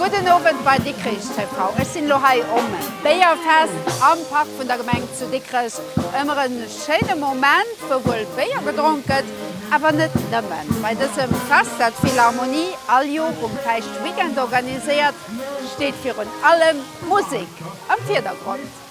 Gudden Owend bei Dikrich TV. Ech sinn elo hei um Béierfest am Park vun der Gemeng zu Dikrech. Ëmmer e schéine Moment, wou wuel Béier gedronk gëtt, awer net nëmmen. Bei dësem Fest, dat d'Philharmonie all Jor um Päischtweekend organiséiert, steet virun allem d'Musek am Virdergrond.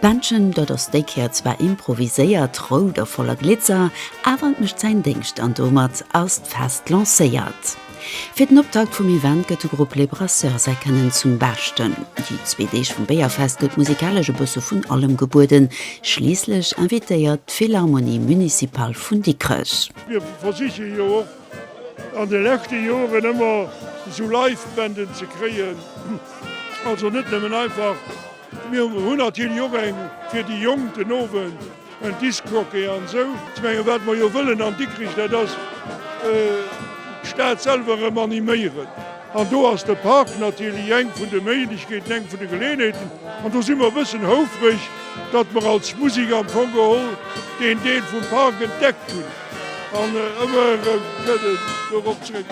D'Bändchen, dat ass déi Kéier zwar improviséiert, rout a voller Glitzer, awer et mécht säin Déngscht an domat ass d'Fest lancéiert. Fir den Optakt vum Event gëtt de Grupp Les Brasseurs säi Kënnen zum Beschten. Déi zwee Deeg vum Béierfest gëtt musikalesch e bësse vun allem gebueden, schliisslech invitéiert d'Philharmonie Municipale vun Dikrech. Mir versiche jo och an de leschte Joren ëmmer esou Live-Bänden ze kréien, also net nëmmen einfach. Mir hunn natierlech och eng fir déi Jonk den Owend, en Discjockey an esou. Ech menge wat mer jo wëllen an Dikrich, dat ass d'Stad selwer erëm animéieren. An do ass de Park natierlech eng vun de Méiglechkeeten, eng vun de Geleeënheeten. An do si mer e bëssen houfreg, datt mer als Musek am Fong geholl deen Deel vum Park entdeckt hunn. An ëmmer erëm kënnt en dorop zréck.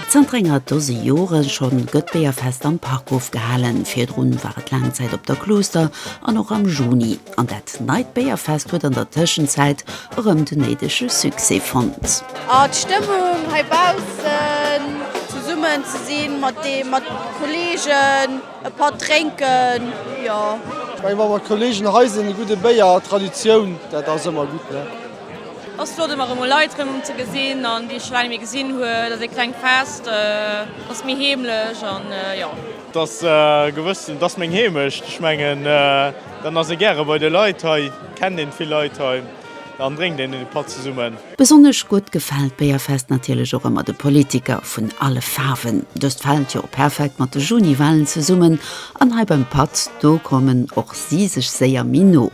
Zanter enger Dose Jore schonn gëtt d'Béierfest am Park ofgehalen. Virdrun war et laang Zäit op der Klooster an och am Juni. An dat neit Béierfest huet an der Tëschenzäit erëm den néidege Succès fonnt. A d'Stëmmung hei baussen, zesummen ze sinn mat de Kolleegen, e Patt drénken, jo. Ech menge wa mer mat Kolleegen hei sinn, e gudde Béier, Traditioun, dat ass ëmmer gutt. Ass flott emmer emol Leit rem ze gesin an déi ech scho laang net méi gesin hun. Et ass ee klengt Fest, ass méi heemlech an jo. Et ass gewëss, et ass meng Heemecht. Ech mengen dann ass ee gäre bei de Leit hei, kennt een vill Leit hei an drénkt een ee Patt zesummen. Besonnesch gutt gefält d'Béierfest natierlech och emmer de Politiker vun alle Faarwen. Dëst fällt jo perfekt mat de Juni-Walen zesummen an hei beim Patt do kommen och si sech séier méi no.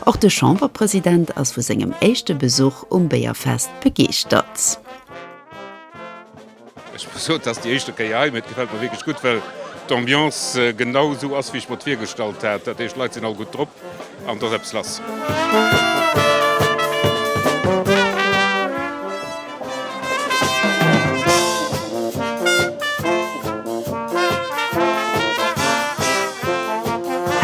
Och de Chamberpresident ass vu sengem éischte Besuch um Béierfest begeeschtert. Ech muss soen, et ass déi éischte Kéier hei, mee et gefält mer wierklech gutt, well d'Ambiance genau esou ass, wéi ech mer et virgestallt hat. Dat heescht, d'Leit sinn all gutt drop an et ass eppes lass.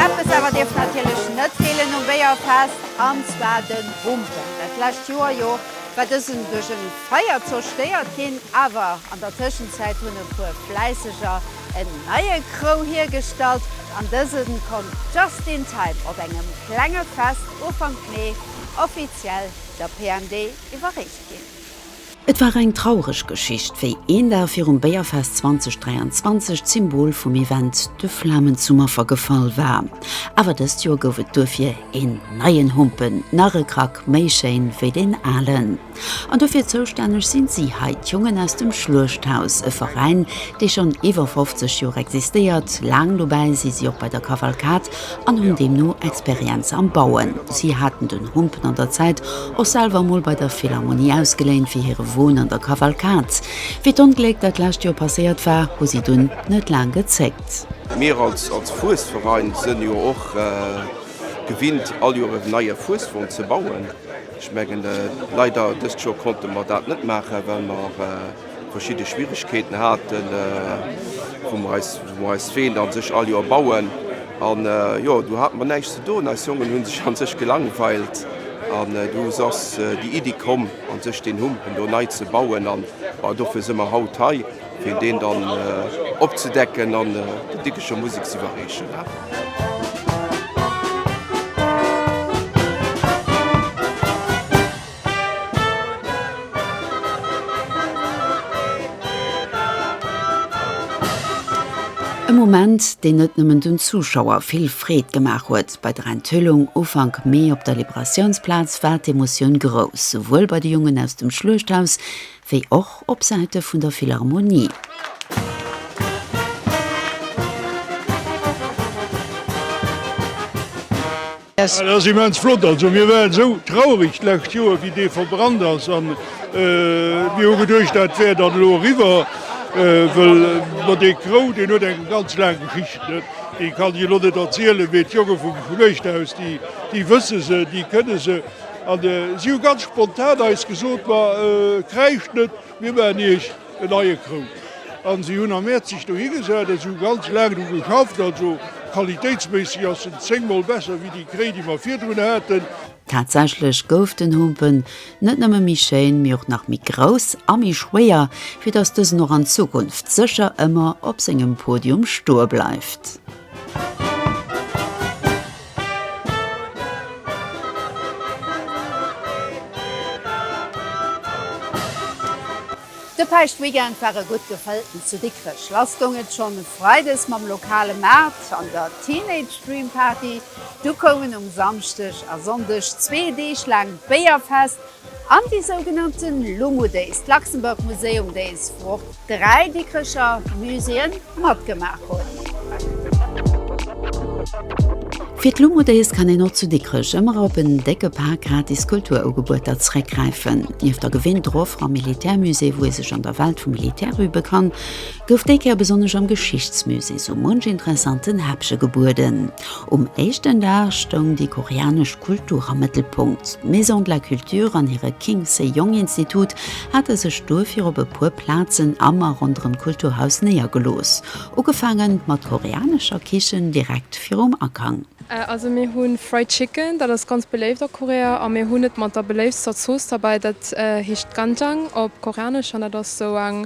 Eppes awer dierft natierlech net feelen um Béierfest, an zwar de Bumper. Dat lescht Joer jo war dësen duerch e Feier zerstéiert ginn, awer an der Tëschenzäit hunn e puer Fläisseger en neie Krou hiergestallt an dëse konnt just in time op engem klenge Fest Ufank Mee offiziell der PMD iwwerreecht ginn. Et war eng traureg Geschicht, wéi een Dag virum Béierfest 2023 d'Symbol vum Event de Flamen zum Affer gefall war. Awer dëst Joer gouf et duerfir een neien Humpen, nach e Krack méi schéin wéi deen alen. An dofir zoustänneg sinn si hei, d'Jongen aus dem Schluechthaus, e Veräin, dee schonn iwwer 50 Joer existéiert. Laang dobäi si si och bei der Kavalkad, an hunn deemno Experienz am Bauen. Si haten den Humpen an der Zäit och selwer emol bei der Philharmonie ausgeléint fir hire Won an der Kavalkad. Wéi d'Ongléck dat lescht Joer passéiert war, hu si dunn net laang gezéckt. Mir als Fuesverein sënn jo och gewinnt all Joer en neie Fueswon ze bauen. Ech mengen leider dëst Joer konnte mer dat net maachen well mer. verschidde Schwierigkeeten haten, wou mer eis, wou mer eis d'Ween an sech all Joer bauen. An jo, do hate mer näischt ze doen, eis Jongen hunn sech an sech gelangweilt. An du ass déi Iddi komm, an sech deen Humpen do nei ze bauen. An dofir si mer haut hei, fir deen dann opzedecken an der Dickecher Musek ze iwwerreechen. E Moment, deen net nëmmen den Zuschauer vill Freed gemaach huet. Bei der Enthüllung Ufank Mee op der Liberatiounsplaz war d'Emotioun grouss, souwuel bei de Jongen aus dem Schluechthaus wéi och op Säite vun der Philharmonie. Merci. Dat ass immens flott. Also mir waren esou traureg d'lescht Joer wéi dee verbrannt ass an mir hu geduecht dat wär dann elo eriwwer, well ma dee Krou deen huet eng ganz laang Geschicht, déi kann ech elo net erzielen, mee d'Jonge vum Schluechthaus déi wësse se, déi kënne se. An si hu ganz spontan eis gesot, ma kräischt net, Mir maachen iech en neie Krou. An si hunn am Mäerz sech dohi gesat a si hu ganz laang dru geschafft. Also qualitéitsméisseg ass en zéngmol besser wéi déi Kréi, déi mer virdrun haten. Tatsächlech gouf den Humpen net nëmme méi schéin, mee och nach méi grouss a méi schwéier, fir datt dësen och an Zukunft sécher ëmmer op sengem Podium stoe bleift. De Päischtweekend war e gutt gefëllten zu Dikrech. Lass goung et schonn e Freides mam lokale Maart an der Teenage Dream Party. Du koumen um Samschdeg a Sonndeg zwee Deeg laang d'Béierfest An déi sougenannte Lumu Days, d'Luxembourg Museum Days, wou och dräi Dikrecher Muséeë matgemaach hunn. Fir d'Lumu Days kann een och zu Dikrech ëmmer op en décke Pak gratis Kulturugebueter zeréckgräifen. Nieft der gewinter Offer am Militärmusée, wou ee sech an der Welt vum Militär übe kann, gouf déi Kéier besonnesch am Geschichtsmusée sou munch interessanten Häppche gebueden. Um éischten Dag stoung déi koreanesch Kultur am Mëttelpunkt. D'Maison de la Culture an hire King Sejong Institut hate sech duerfir op e puer Plazen am a ronderëm d'Kulturhaus néiergelooss. Ugefaange mat koreanescher Kichen direkt virum Akang. Also mir hu Fried Chicken, dat ass ganz beléift a Korea a mir hunn et mat der beléiftster Zooss derbäi, dat heescht Ganjang op Koreanesch an dat ass sou eng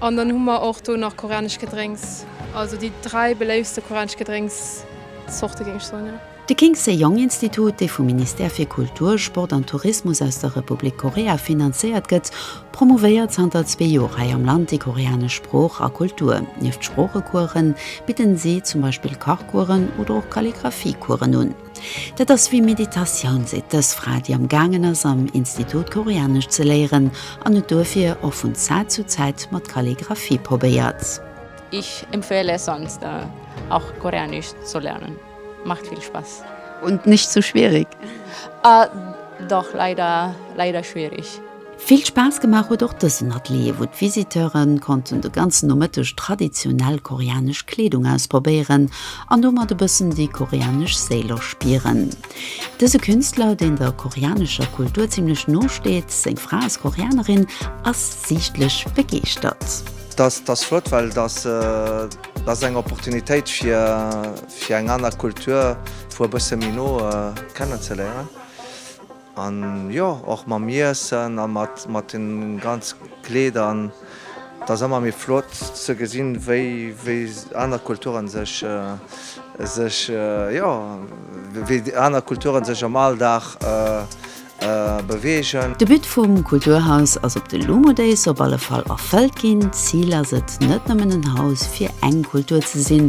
An dann hu mer och do nach koreanesch Gedrénks. Also déi dräi beléiftste koreanesch Gedrénkszorte géing ech soen, jo. De King Sejong Institut, dee vum Ministère fir Kultur, Sport an Tourismus aus der Republik Korea finanzéiert gëtt, promouvéiert zanter zwee Joer hei am Land déi koreanesch Sprooch a Kultur. Nieft Sproochecoursen bidden si zum Beispill Kachcoursen oder och Kalligraphiecoursen un. Dat ass wéi Meditatioun, seet dës Fra, déi am gaangen ass am Institut Koreanesch ze léieren an et duerfir och vun Zäit zu Zäit mat Kalligraphie probéiert. Ich empfehle sonst auch Koreanisch zu lernen, macht viel Spaß. Und nicht zu schwierig? Ah doch, leider, leider schwierig. Vill Spaass gemaach huet och dësen Atelier, wou d'Visiteure konnten de ganzen Nomëtteg traditionell koreanesch Kleedung ausprobéieren an domat e bëssen déi koreanesch Séil erspieren. Dëse Künstler, deen der koreanescher Kultur zimmlech no steet, seng Fra ass Koreanerin, ass siichtlech begeeschtert. Dat ass flott, well dat ass eng Opportunitéit fir eng aner Kultur vu e bësse méi no kennen ze léieren. An jo, och mam Iessen a mat den ganz Kleeder. An et ass ëmmer méi flott ze gesinn, wéi aner Kulturen sech, sech, jo, wéi déi aner Kulturen sech am Alldag beweegen. De But vum Kulturhaus ass op de Lumo Days op alle Fall erfëllt ginn. D'Zil ass et, net nëmmen en Haus fir eng Kultur ze sinn,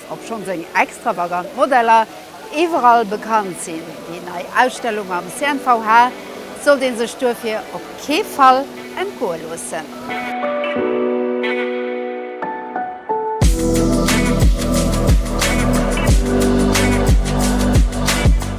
Obschonn seng extravagant Modeller iwwerall bekannt sinn, déi nei Ausstellung am CNVH sollt ee sech duerfir op kee Fall entgoe loossen.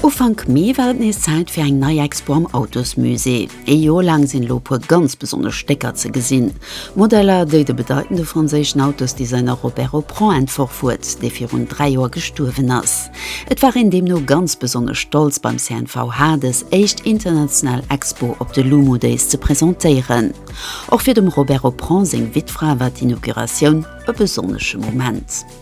Ufank Mee war et nees Zäit fir eng nei Expo am Autosmusée. Ee Joer laang sinn elo e puer ganz besonnesch Stécker ze gesinn, Modeller, déi de bedeitende franséischen Autosdesigner Robert Opron entworf huet, dee virun dräi Joer gestuerwen ass. Et war een deemno ganz besonnesch stolz beim CNVH dës éischt international Expo op de Lumu Days ze presentéieren. Och fir dem Robert Opron seng Wittfra war d'Inauguratioun e besonnesche Moment.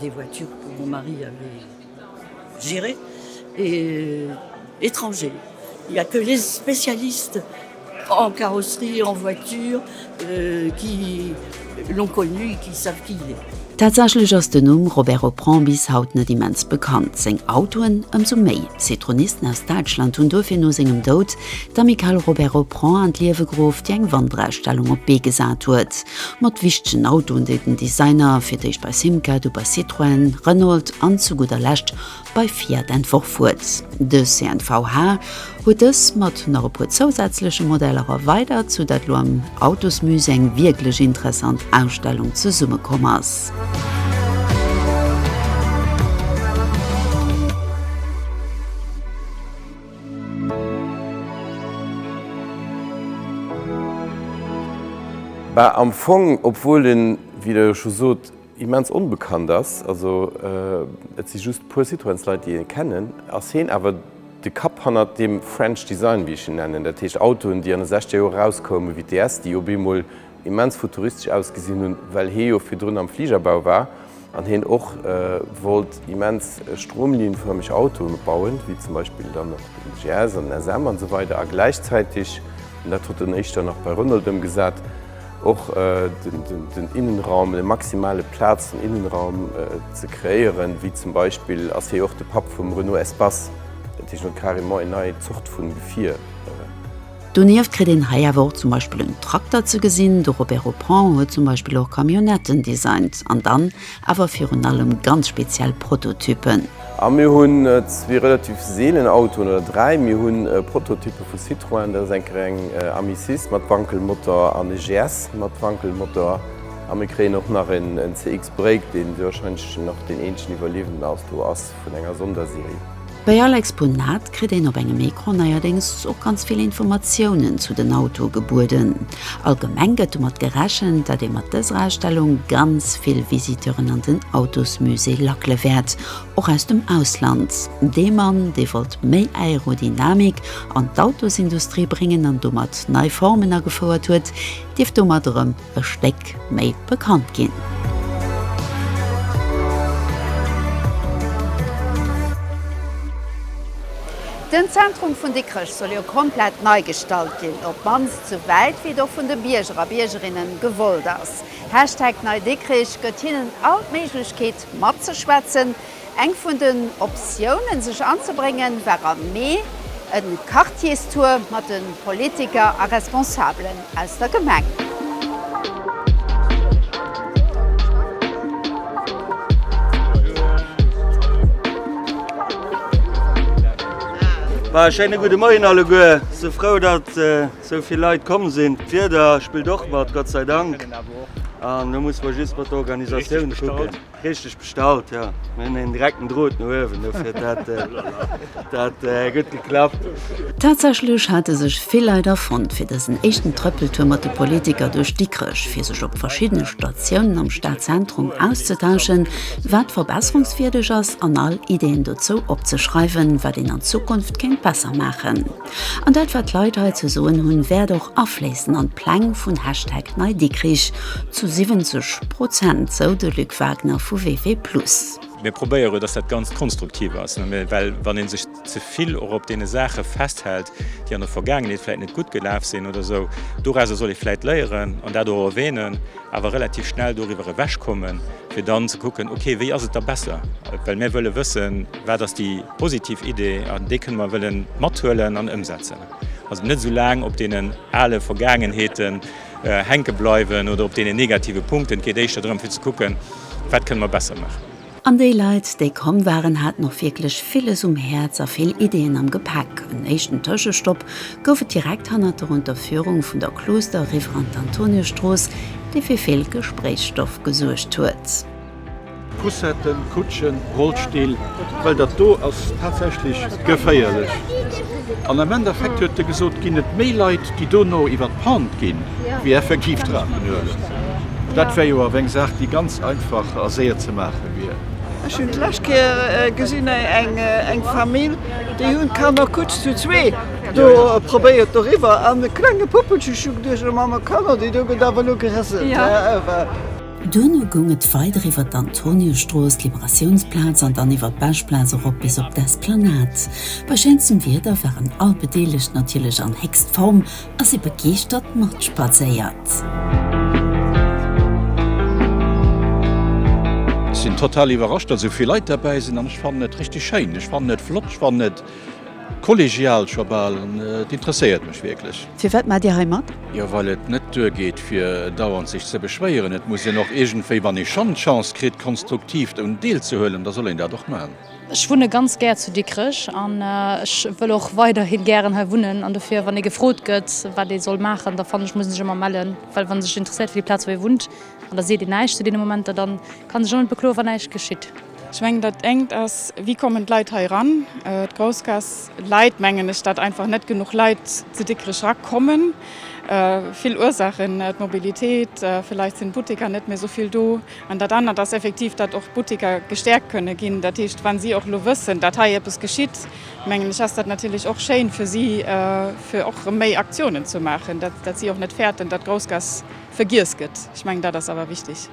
Des voitures que mon mari avait gérées et étrangers, il n'y a que les spécialistes en carrosserie et en voitures qui l'ont connu et qui savent qui il est. Tatsächlech ass den Numm Robert Oprandt bis haut net immens bekannt. Seng Autoen ëmsou méi. D'Citroenisten aus Däitschland hunn duerfir no sengem Doud D'Amicale Robert Reprend an d'Liewe geruff, déi eng Wanderausstellung op d'Bee gesat huet, mat wichtegen Autoen, déi den Designer fir d'éischt bei Simca, du bei Citroën, Renault an zu gudder Lescht bei Fiat entworf huet. De CNVH huet dës mat nach e puer zousätzleche Modeller erweidert, sou dat elo am Autosmusée eng wierklech interessant Ausstellung zesumme komm ass. Bah, am Fong, obwuel en, wéi Der jo scho sot, immens onbekannt ass, also et si just e puer Citroëns-Leit, déi e kennen, ass hien awer de Kapp hannert deem French Design, wéi ech en nennen, dat heescht Autoen, déi an de 60er Joer erauskoumen, wéi d'DS, déi op eemol, immens futuristesch ausgesinn hunn, well hie jo virdrun am Fligerbau war an hien och wollt immens stromlinienförmeg Autoe bauen, wéi zum Beispill dann och den GS an den SM an esou weider a gläichzäiteg, an dat huet en éischter dann nach bei Renault ëmgesat, och den Innenraum, de maximale Plaz an Innenraum ze kreéieren, wéi zum Beispill ass hie och de Papp vum Renault Espace, dat heescht, en huet carrément een nei Zort vu Gefier. Donieft kritt een hei awer och zum Beispill en Trakter ze gesinn. De Robert Oppong huet zum Beispill och Camionnetten designt, an dann awer virun allem ganz speziell Prototypen. A mir hunn zwee relativ seelen Autoen, oder dräi. Mir hu Prototyppe vu Citroën, dat ass eng Kéier eng Amicis mat Wankelmotor an e GS mat Wankelmotor. A mir kréien och nach en CX Break, dee warscheinlech nach deen eenzegen Iwwerliewenden ass, do ass. vun enger Sonderserie. Bei all Exponat kritt een op engem Ecran neierdéngs och ganz vill Informatiounen zu den Autoe gebueden. Allgemeng gëtt domat gerechent, datt ee mat dëser Ausstellung ganz vill Visiteuren an den Autosmusée lackele wäert, och aus dem Ausland. Dee Mann, dee wollt méi Aerodynamik an d'Autosindustrie bréngen an domat nei Formen agefouert huet, dierft domat erëm e Stéck méi bekannt ginn. Den Zentrum vun Dikrech soll jo komplett nei gestalt ginn, op d'mannst sou wäit wéi et och vun de Bierger a Biergerinnen gewollt ass. Hashtag NeiDikrich gëtt hinnen all d'Méiglechkeet matzeschwätzen. Eng vun den Optiounen, sech anzebréngen, war am Mee e Quartierstour mat de Politiker a Responsabelen aus der Gemeng. E schéine gudde Moien alleguer. Sou frou, datt sou vill Leit komm sinn. D'Wieder spillt och mat, Gott sei Dank, an elo musse mer just mat der Organisatioun kucken. Richteg bestallt, jo. Mir hunn een direkten Drot no uewen, dofir huet dat dat gutt geklappt. Tatsächlech hate sech vill Leit erfonnt fir dësen éischten Trëppeltour mat de Politiker duerch Dikrech, fir sech op verschiddene Statiounen am Stadzentrum auszetauschen, wat verbesserungswierdeg ass an all Ideeën dozou opzeschreiwen, wat een an Zukunft kéint besser maachen. An dat wat d'Leit hei ze soen hunn, wäert och afléissen an d'Pläng vun Hashtag NeiDikrich, zu 70 Prozent, sou de Luc Wagner vu WW Plus. Mir probéiere dass dat Ganzt konstruktiv ass, well wann ee sech ze vill och op deene Saache festhält, déi an der Vergaangenheet vläit net gutt gelaf sinn oder esou, dorausser soll ee vläit léieren an dat och erwänen. awer relativ schnell doriwwer ewech kommen, fir dann ze kucken, ok, wéi ass et da besser, well mir wëlle wëssen, wat ass déi positiv Idee an déi kënne mer wëlle mathuelen an ëmsetzen. Also net esou laang op deenen ale Vergaangenheeten hänke bleiwen oder op deenen negative Punkten. Et geet éischter drëm, fir ze kucken, wat kënne mer besser maachen. An déi Leit, déi komm waren, haten och wierklech villes um Häerz a vill Ideeën am Gepäck. En éischten Tëschestopp gouf et direkt hannert der Unterführung vun der Klooster riwwer an d'Antoniusstrooss, déi fir vill Gespréichsstoff gesuergt huet. Poussetten, Kutschen, Rollstill, well dat do ass tatsächlech geféierlech. An am Endeffekt huet e gesot, ginn et méi Leit, déi dono iwwer d'Pente ginn, wéi effektiv d'Rapen huelen. Dat wär jo awer eng Saach, déi ganz einfach a séier ze maache wier. Ech hunn d'lescht Kéier gesinn eng Famill, déi hunn d'Kanner kucks zu zwee do probéiert doriwwer an e klenge Puppelche schlung duerch. Elo mam Kanner, déi do gëtt awer elo gerissen. Duerno goung et weider iwwer d'Antoniusstrooss, d'Liberatiounsplaz an dann iwwer d'Bechplaz erop bis op d'Esplanade. Bei schéinstem Wieder waren all Bedeelegt natierlech an héchst Form a si begeeschtert matspadséiert. Ech sinn total iwwerrascht, datt esou vill Leit derbäi sinn an ech fannen et richteg schéin. Ech fannen et flott, ech fannen et. Kollegial scho bal, et interesséiert mech wierklech. Firwat maacht Dir hei mat? Jo, well et net duergeet fir dauernd sech ze beschwéieren. Et muss een och iergendwéi, wann ee schonn d'Chance kritt konstruktiv drun deelzehuelen, da soll een dat och maachen. Ech wunne ganz gär zu Dikrech an ech wëll och weiderhi gären hei wunnen. An dofir, wann ee gefrot gëtt, wat ee soll maachen, da fannen ech muss een sech ëmmer mellen. Well wann ee sech interesséiert fir déi Plaz wou ee wunnt an da seet een näischt zu deene Momenter, da kann ee sech och net bekloen wann näischt geschitt. Ech mengen, dat engt ass, wéi kommen d'Leit hei eran? D'Groussgaass läit, mengen ech, dat einfach net genuch Leit zu Dikrech erakommen. Vill Ursaachen, d'Mobilitéit, vläicht sinn d'Butteker net méi esou vill do. An dat anert ass effektiv, datt och d'Butteker gestäerkt kënne ginn. Dat heescht, wa si och elo wëssen, datt hei eppes geschitt, mengen ech, ass dat natierlech och schéin fir si, fir och erëm méi Aktiounen ze maachen, datt si och net fäerten, datt d'Groussgaass vergiess gëtt. Ech mengen, dat ass awer wichteg.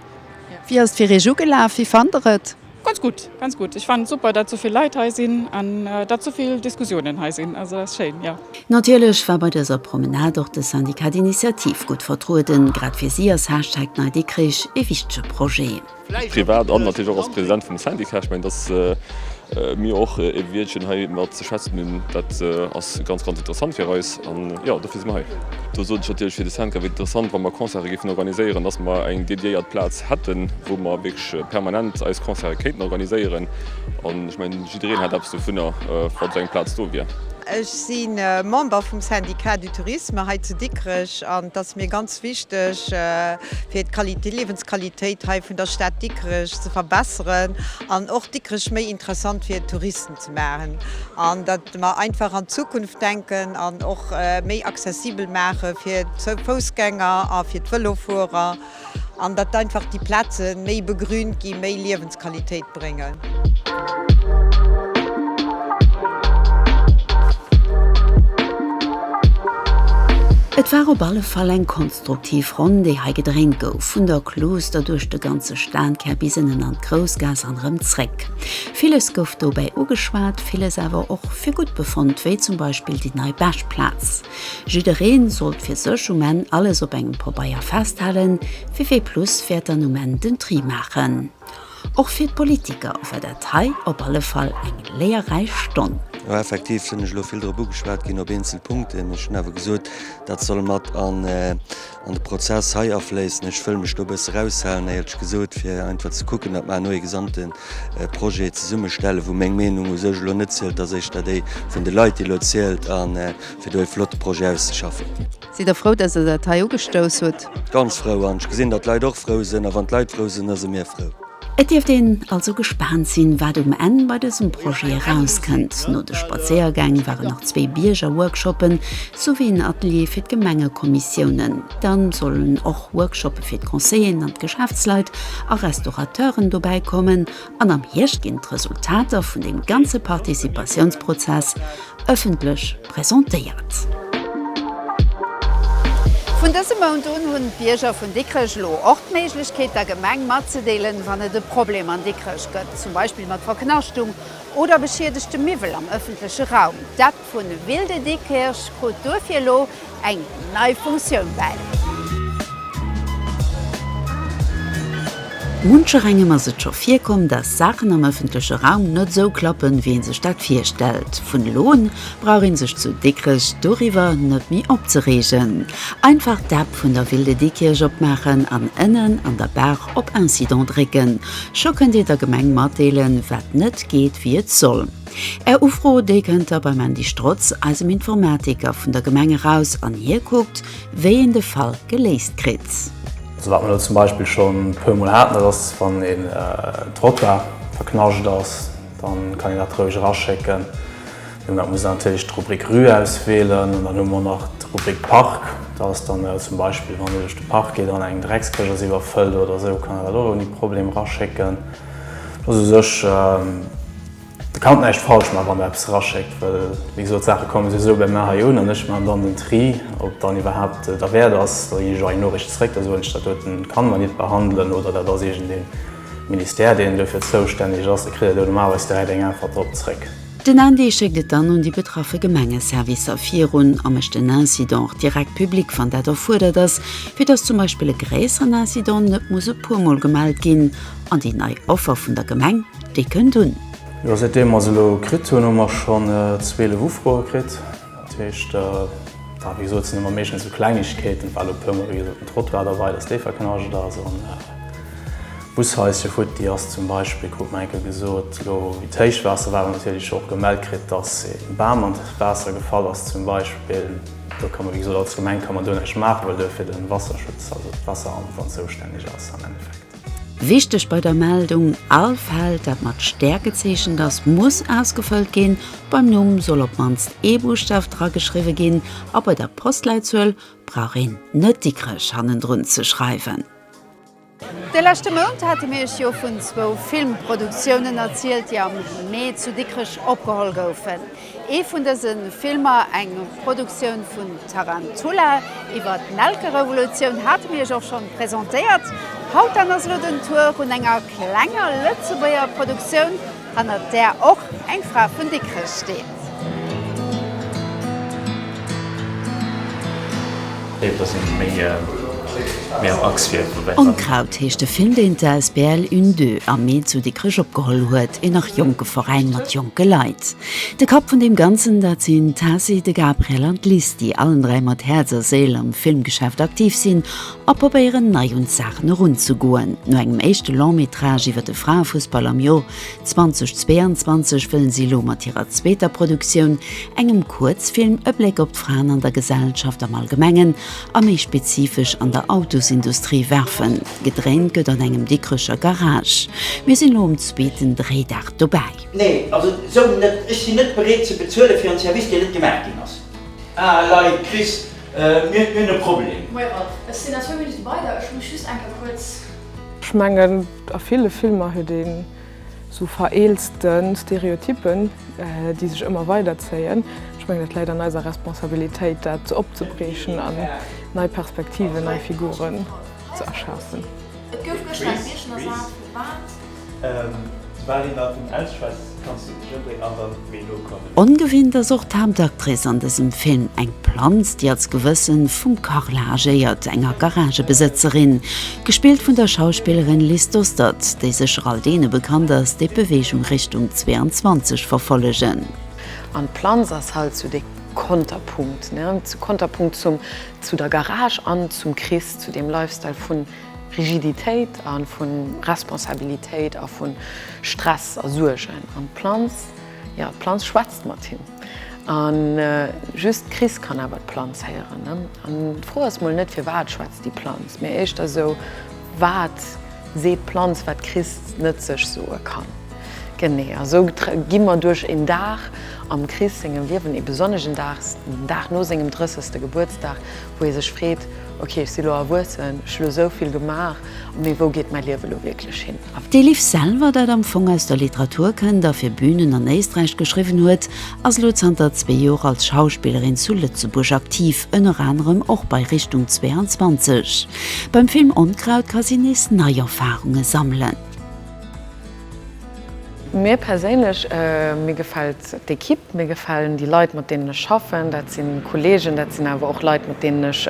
Wéi ass et fir Iech ugelaf? Wéi fannt der et? Ganz gutt, ganz gutt. Ech fannen et super dat souvill Leit hei sinn an dat souvill Diskussiounen hei sinn. Also ass schéin, jo. Natierlech war bei dëser Promenade och de Syndicat d'Initiative gutt vertrueden. Grad fir si ass Hashtag NeiDikrich ee wichtege Projet. Privat an natierlech och als President vum Syndicat. Ech mengen, dass mir och ee Wiertchen hei mat. ze schwätzen hunn. Dat ass ganz, ganz interessant fir eis an jo, dofir si mer hei. Do sot ech natierlech fir de Centre wéi interessant, wa mer Concerte géifen organiséieren, dass mer eng dediéiert Plaz hätten, wou mer wierklech permanent eis Concerte kéinten organiséieren. An ech mengen, jiddereen hätt eppes dovunner, wa sou eng Plaz do wier. Ech si Member vum Syndicat du Tourisme hei zu Dikrech an et ass mir ganz wichteg, fir d'Qualité, d'Liewensqualitéit hei vun der Stad Dikrech ze verbessern an och Dikrech méi interessant fir d'Touristen. ze maachen an datt mer einfach an d'Zukunft denken an och méi accessibel maache fir d'Foussgänger a fir d'Vëlofuerer an datt einfach déi Plaze méi begrünt ginn, méi Liewensqualitéit bréngen. Et war op alle Fall eng konstruktiv Ronn, déi hei gedréint gouf, vun der Klooster duerch de ganze Stankär bis ënnen an d'Groussgaass an erëm zréck. Villes gouf dobäi ugeschwat, villes awer och fir gutt befonnt, wéi zum Beispill déi nei Bech-Plaz. Jidderee sollt fir sech um Enn alles op engem Pabeier festhalen, fir wéi Plus wäert dann um Enn den Tri maachen. Och fir d'Politiker war dat hei op alle Fall eng léierräich Stonn. Jo, effektiv sinn ech elo vill drop ugeschwat ginn op eenzel Punkten. Ech hunn awer gesot, dat soll mat an an de Prozess hei afléissen. Ech wëll mech do e bësse raushalen, éierlech gesot, fir einfach ze kucken, datt mer herno ee gesamte Projet zesummestellen, wou meng Meenung u sech elo net zielt, ass éischter déi vun de Leit, déi elo zielt, a fir do ee flotte Projet auszeschaffen. Sidd Der frou, datt Der dat hei ugestouss hutt? Ganz frou, an ech gesinn, datt d'Leit och frou sinn, a wann d'Leit frou sinn, da si mir frou. Et dierft een also gespaant sinn, wat um Enn bei dësem Projet erauskënnt. No de Spadséiergäng waren nach zwee Biergerworkshoppen souwéi en Atelier fir d'Gemengekommissiounen. Dann sollen och Workshoppe fir d'Conseiller'en an d'Geschäftsleit a Restaurateuren dobäi kommen an am Hierscht ginn d'Resultater vun deem ganze Participatiounsprozess ëffentlech. presentéiert. Vun dësem Mount un hunn d'Bierger vun Dikrech elo och d'Méiglechkeet der Gemeng matzedeelen, wann et e Problem an Dikrech gëtt, zum Beispill mat Verknaschtung oder beschiedegtem Miwwel am ëffentleche Raum. D'App vun Wilde Dikkirch krut duerfir elo eng. nei Funktioun bäi. Muncher engem ass et scho virkomm, dass Saachen am ëffentleche Raum net esou klappen, wéi ee sech dat virstellt. Vun elo un brauch ee sech zu Dikrech doriwwer net méi opzereegen. Einfach d'App vun der Ville de Diekirch opmaachen an ënnen an der Barre op Incidents drécken. Scho kënnt ee der Gemeng matdeelen, wat net geet, wéi et soll. Är Ufro, déi kënnt da beim Andy Strotz, eisem Informatiker vun der Gemeng eraus an hie kuckt, wéi een de Fall geléist kritt. Also wat mer elo zum Beispill scho e puer Mol haten, dat ass, wann e Trottoir verknascht ass, da kann een dat roueg eraschécken. Mä da muss een natierlech d'Rubrik Rue auswielen an dann hu mer nach d'Rubrik Park. Dat ass dann zum Beispill, wann ee duerch de Park geet an eng Dreckskéch ass iwwerfëllt oder esou, kann een dat och ouni Problem eraschécken. Dat ass u sech Der kannt näischt falsch man wann der eppes eraschéckt, well wéi gesot d'Saache komme souwisou bei mer hei un an ech man dann den Tri ob dann iwwerhaapt derwäert ass datt ech iech eng Noricht zeréck da soen ech dat doten kann mer nit behandelen oder dat ass iergend een Ministère deen dofir zoustänneg ass da kritt der do normalerweis direkt eng Äntwert drop zeréck. Den ND schéckt et dann un déi betraffe Gemengeservicer virun a mécht den Incident och direkt public wann dat erfuerdert ass, fir datt zum Beispill e gréisseren Incident net muss e puer mol gemellt ginn an déi nei Offer vun der Gemeng, Déi kënnt un. Jo, säit deem mer se elo kritt hunn, hu mer schonn 12 Ufroe kritt. Dat heescht, wéi gesot, et sinn ëmmer meeschtens esou Klengegkeeten, et war elo e puer mol, wéi gesot, den Trottoir derbei, dass dee verknascht ass. An d'Bushaischt hier futti ass zum Beispill, krut mer eng Kéier gesot. Elo wéi d'Héichwaasser war, hu mer natierlech och gemellt kritt, dass e Bam an d'Waasser gefall ass zum Beispill. Do ka mer, wéi gesot, als Gemeng ka mer do näischt maachen, well do fir de Wasserschutz, also d'Wasseramt dann zoustänneg ass am Endeffekt. Wichteg bei der Meldung, All Feld, dat mat Stär gezeechent ass, muss ausgefëllt ginn. Beim Numm soll op d'mannst ee Buschtaf drageschriwwe ginn a bei der Postleitzuel brauch een net Dikrech hannendrun ze schreiwen. De leschte Mount hate mir iech jo vun zwou Filmproduktiounen erzielt, déi am Mee zu Dikrech opgeholl goufen. Ee vun dëse Filmer, eng Produktioun vun Tarantula iwwer d'Nelkerevolutioun, hate mir iech och schonn presentéiert. Haut dann ass elo den Tour vun enger klenger Lëtzebuerger Produktioun, hannert där och eng Fra vun Dikrech steet. Onkraut heescht de Film, deen d'Asbl Une Deux am Mee zu Dikrech opgeholl huet, een nach jonke Veräin mat jonke Leit. De Kapp vun deem Ganzen, dat sinn d'Tessy, de Gabriel an d'Liz, déi allen dräi mat Häerz a Séil am Filmgeschäft aktiv sinn a probéieren, nei un d'Saachen erunzegoen. No engem éischte Long-métrage iwwer de Fraefussball am Joer 2022 wëllen si elo mat hirer zweeter Produktioun, engem Kuerzfilm, e Bléck op d'Fraen an der Gesellschaft am Allgemengen a méi spezifesch an der Autosindustrie werfen. Gedréint gëtt an engem Dikkrecher Garage. Mir sinn elo um zweeten Dréidag dobäi. Nee, also esou net. Ech sinn net bereet ze bezuele fir en Service, deen net gemaach ginn ass. Ah Leit, Chris, mir hunn e Problem. Moie Ralph, ech sinn a zwou Minutte bei der. Ech muss just eng Kéier kuerz. Ech mengen a ville Filmer huet een esou vereelzte Stereotypen, déi sech ëmmer weider zéien. Ech mengen et läit an eiser Responsabilitéit dat opzebrechen an nei Perspektiven, nei Figuren ze erschafen. Ongewinnt ass och d'Haaptactrice an dësem Film, eng Planz, déi als Gewëssen vum Carla agéiert, enger Garagebesëtzerin, gespillt vun der Schauspillerin Liz Dostert, déi sécher all deene bekannt ass, déi d'Beweegung Richtung 22 verfollegen. An d'Planz ass halt sou de Konterpunkt, ne, zu Konterpunkt zum, zu der Garage an zum Chris, zu deem Lifestyle vun. Rigiditéit a vu Responsabilitéit a vu Stress a Suergen. An d'Planz, jo, d'Planz schwätzt mat him. A just d'Chris kann awer d'Planz héieren. An d'Fro ass mol net, firwat schwätzt déi Planz, mee éischter esou, Wat seet d'Planz, wat d'Chris net sech soe kann? Genee. A sou gi mer duerch een Dag am Chris sengem Liewen, ee besonneschen Dag, den Dag no sengem 30. Gebuertsdag, wou ee sech freet, ok ech si lo erwuessen, ech hu lo sou vill gemaach, mee wou geet mäi Liewe lo wierklech hin? D'Elif Selver, dat am Fong aus der Literatur kënnt a fir Bünen an Éisträich geschriwwen huet, ass elo zanter zwee Joer als Schauspillerin zu Lëtzebuerg aktiv, ënner anerem och bei Richtung 22. Beim Film Onkraut ka si nees nei Erfarunge sammelen. Mir perséinlech, mir gefält d'Equipe, mir gefälen déi Leit mat deenen ech schaffen. Dat si Kollegen, dat sinn awer och Leit mat deenen ech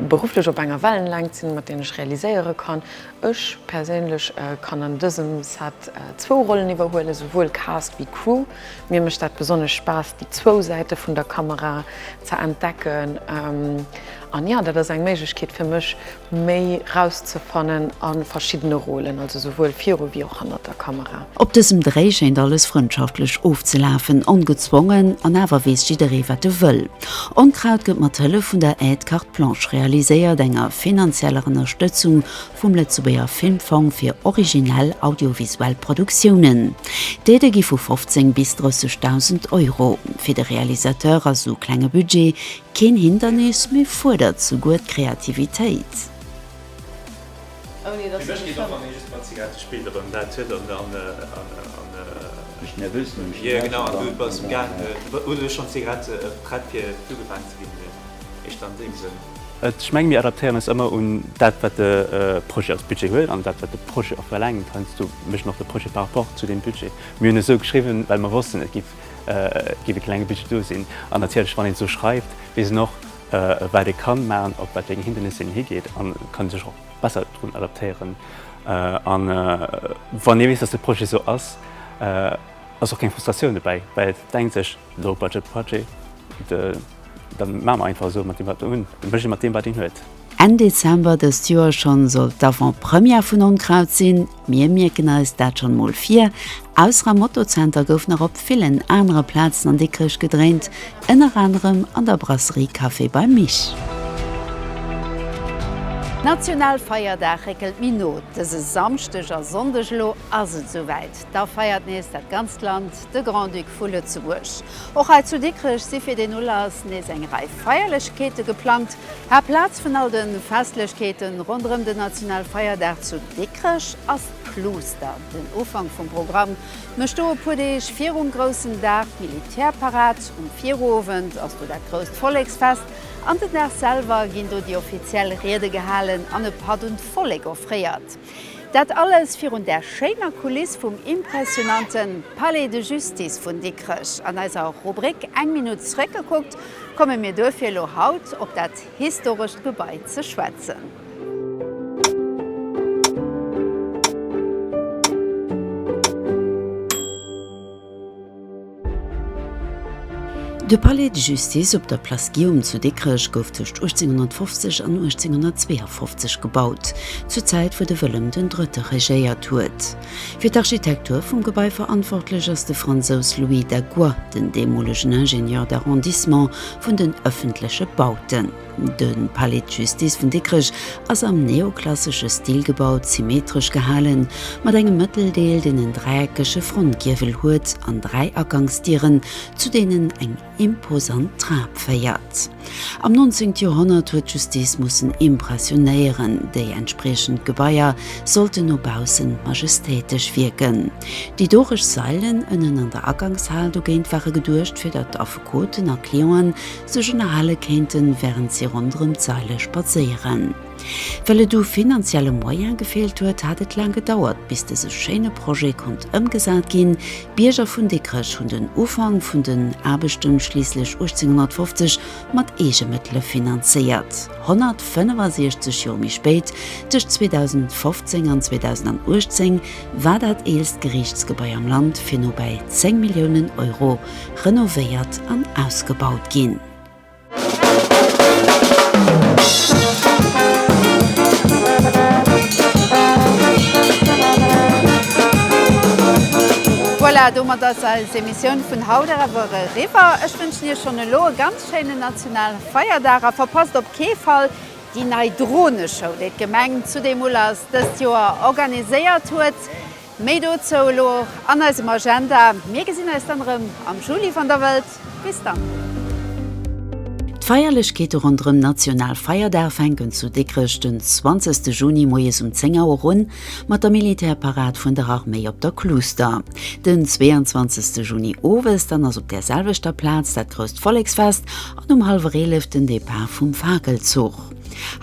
berufflech op enger Wellenlängt sinn, mat deenen ech realiséiere kann. Ech perséinlech kann an dësem Set zwou Rollen iwwerhuelen, esouwuel Cast wéi Crew. Mir mécht dat besonnesch Spaass déi zwou Säite vun der Kamera ze entdecken an jo, dat ass eng Méiglechkeet fir mech, méi rauszefannen a verschiddene Rôlen, also souwuel viru wéi och hannert der Kamera. Op dësem Dréi schéint alles frëndschaftlech ofzelafen, ongezwongen, an awer weess jidderee wat e wëll. Onkraut gëtt mat Hëllef vun der Aide Carte Blanche realiséiert, enger finanzieller Ënnerstëtzung vum Lëtzebuerger Filmfong fir originell audiovisuell Produktiounen. D'Aidë gi vu 15 bis 30.000 Euro. Fir de Realisateur ass esou klenge Budget Keen Hindernis, mee fuerdert souguer d'Kreativitéit. Fir mech geet och an ee super Zigarette spillt erëm dat huet an an. Mech nervös no engem Cigarette jo genau an du bass gaang hues du schonn d'Zigarette prett fir du gefaangen ze ginn jo ech dann deem Sënn. Ech menge mir adaptéieren eis ëmmer un dat wat de Projet als Budget huet an dat wat de Projet och verlaangt. Heiansdo mécht een och de Projet par rapport zu deem Budget. Mir hunn esou geschriwwen well mer wossten et giff Et géif e klenge Budget do sinn. An natierlech, wann een esou schreift, weess een och, wat ee ka maachen, op wat wéi eng Hindernisse een higeet a kann ee sech och besser drun adaptéieren. A wann ee weess, datt de Projet esou ass, ass och keng Frustratioun dobäi, well et denkt sech, Low-budget-Budget, da maache mer einfach esou mat deem, wat een hunn, da mécht ee mat deem, wat een huet. Enn Dezember dëst Joer schonn soll d'Avant-Première vun Onkraut sinn. Mir mierken eis dat schonn mol vir. Ausser am Moto-Zenter gouf nach op villen anere Plazen an Dikrech gedréint, ënner anerem an der Brasserie Café Beim Mich. Nationalfeierdag réckelt méi no. Dëse Samschdeg a Sonndeg elo ass et esouwäit. Da feiert nees dat ganzt Land De Grand-Duc vu Lëtzebuerg. Och hei zu Dikrech si fir deen Ulass nees eng Rei Feierlechkeete geplangt. Haaptplaz vun all de Festlechkeete ronderëm den Nationalfeierdag zu Dikrech ass d'Pluuster. Den Ufank vum Programm mécht do e puer Deeg virum groussen Dag d'Militärparad. Um Virowend ass do dat grousst Volleksfest an den Dag selwer ginn do déi offiziell Riede gehalen an e Patt un d'Vollek offréiert. Dat alles virun där schéiner Kuliss vum impressionante Palais de Justice vun Dikrech. An eiser Rubrik Eng Minutt zréckgekuckt komme mir duerfir elo haut op dat historescht Gebai ze schwätzen. De Palais de Justice op der Place Guillaume zu Dikrech gouf tëscht 1850 an 1852 gebaut, zur Zäit wou de Wëllem den Drëtte regéiert huet. Fir d'Architektur vum Gebai verantwortlech ass de Fransous Louis Dagois, den deemolegen Ingénieur d'arrondissement vun den ëffentleche Bauten. De Palais de Justice vun Dikrech ass am neoklassesche Stil gebaut, symmetresch gehalen, mat engem Mëtteldeel, deen en dräieckege Frontgiewel huet, an dräi Agangsdieren, zu deenen eng imposant Trap féiert. Am 19. Joerhonnert huet d'Justice mussen impressionéieren, déi entspriechend Gebaier sollten no baussen majestéitesch wierken. Déi dorech Sailen ënnen an der Agangshal dogéint ware geduecht, fir datt Affekoten a Clienten sech ënnerhale kéinten, wärend si ronderëm d'Saile spadséieren. Well et u finanzielle Moyen gefeelt huet, hat et laang gedauert, bis dëse schéine Projet konnt ëmgesat ginn. D'Bierger vun Dikrech hunn den Ufank vun den Aarbechte schliisslech 1850 mat eege Mëttele finanzéiert. 165 Joer méi spéit, tëscht 2015 an 2018, war dat eelst Geriichtsgebai am Land fir no bäi 10 Milliounen Euro renovéiert an ausgebaut ginn. Voilà, domat ass eis Emissioun vun haut awer eriwwer. Ech wënschen Iech schonn elo e ganz schéinen nationale Feierdag a verpasst op kee Fall déi nei Droneshow, déi d'Gemeng zudeemul ass dëst Joer organiséiert huet. Méi dozou elo och an eisem Agenda. Mir gesinn eis dann erëm am Juli wann der wëllt. Bis dann. D'Feierlechkeete ronderëm National Feierdag fänken zu Dikrech den 20 Juni moies um 10 Auer un mat der Militärparad vun der Arméi op der Kluuster. Den 22 Juni owes dann ass op där selwechter Plaz dat grousst Volleksfest an um hallwer 11 den Depart vum Fakelzuch.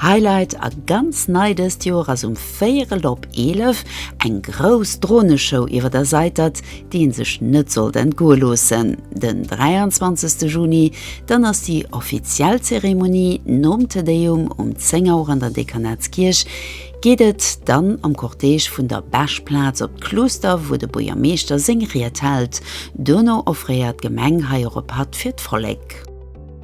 Highlight a ganz nei dëst Joer ass um Véierel op 11 eng grouss Droneshow iwwer der Seitert, déi ee sech net sollt entgoe loossen. Den 23 Juni dann ass déi offiziell Zeremonie, nom Te Deum um 10 Auer an der Dekanatskierch geet et dann am Cortège vun der Beschplaz op d'Kluuster, wou de Buergermeeschter seng Ried hält. Dono offréiert d'Gemeng hei och e Patt fir d'Vollek.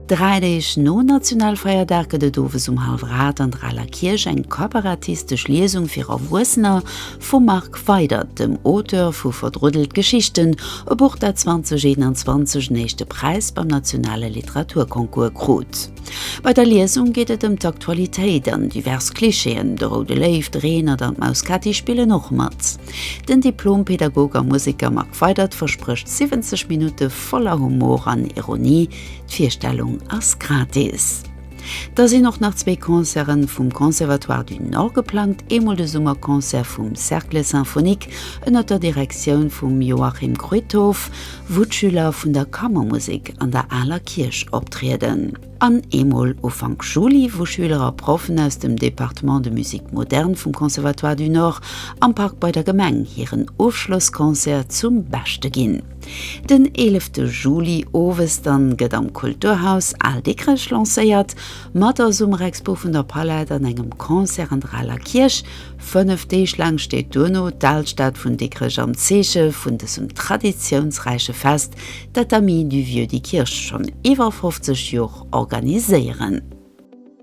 Dräi Deeg nom Nationalfeierdag gëtt et owes um Halveraart an der Aler Kierch eng kabarettistesch Liesung fir Erwuessener vum Marc Weydert, dem Auteur vu Verdruddelt Geschichten, e Buch dat 2021 en éischte Präis beim nationale Literaturconcours krut. Bei der Liesung geet et ëm d'Aktualitéit an divers Klischeeën, de Roude Léiw, de Reenert an d'Maus Kätti spillen och mat. Den Diplom-Pädagog a Museker Marc Weydert versprécht 70 Minutte voller Humor an Ironie, D'Virstellung ass gratis. Da sinn och nach zwee Concerten vum Conservatoire du Nord geplangt, eemol de Summerconcert vum Cercle Symphonique ënnert der Direktioun vum Joachim Kruithof, wou d'Schüler vun der Kammermusek an der Aler Kierch optrieden, an eemol Ufank Juli, wou Schüler a Proffen aus dem Département de musique moderne vum Conservatoire du Nord am Park bei der Gemeng hiren Ofschlossconcert zum Beschte ginn. Den 11 Juli owes dann gëtt am Kulturhaus Al Dikrech lancéiert, mat der Summerexpo vun der Palette an engem Concert an der Aler Kierch. Fënnef Deeg laang steet duerno d'Alstad vun Dikrech am Zeeche vun dësem traditiounsräiche Fest, dat d'Amis du Vieux Dikiirch schonn iwwer 50 Jor organiséieren.